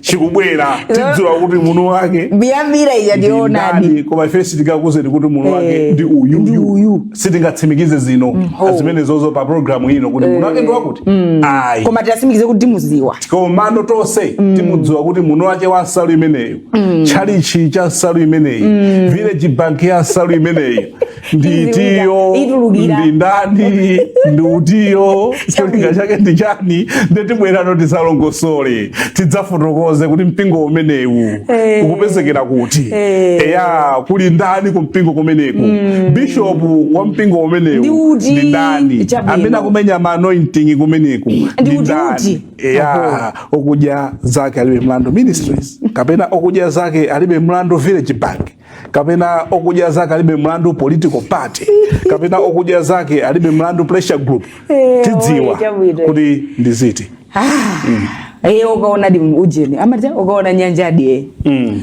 chikubwera tidziwa kuti mwini wake biyambira ija ndi yoonadi koma ife sitingakuuzeni kuti mwini wake eh, ndi uyu ndi uyu sitingatsimikize zino mm, zimenezozo pa programu ino kuti mwini wake ndi eh, wakuti mm. ayi koma titsimikize kuti timudziwa komano tonse mm. timudziwa kuti mwini wake wa nsalu imeneyo tchalichi cha nsalu imeneyi village bank ya nsalu imeneyi ndi itiyo ndi ndani ndi utiyo cholinga chake ndi chani nde tibweranso tidzalongosole tidzafotokoze kuti mpingo umenewu eh. ukupezekera kuti eh. eya kuli ndani ku mpingo kumeneko mm. bishopu wa mpingo umenewu ndi ndani amene akumenya ma anointing kumeneko ndi ndani eya okudya zake alibe mlandu ministries kapena okudya zake alibe mlandu village bank kapena okudya zake alibe mlandu political party kapena okudya zake alibe mlandu pressure group eh, tidziwa kuti ndi ziti ah, mm. Eh, ukaona di ujeni amati ukaona nyanjadi mm.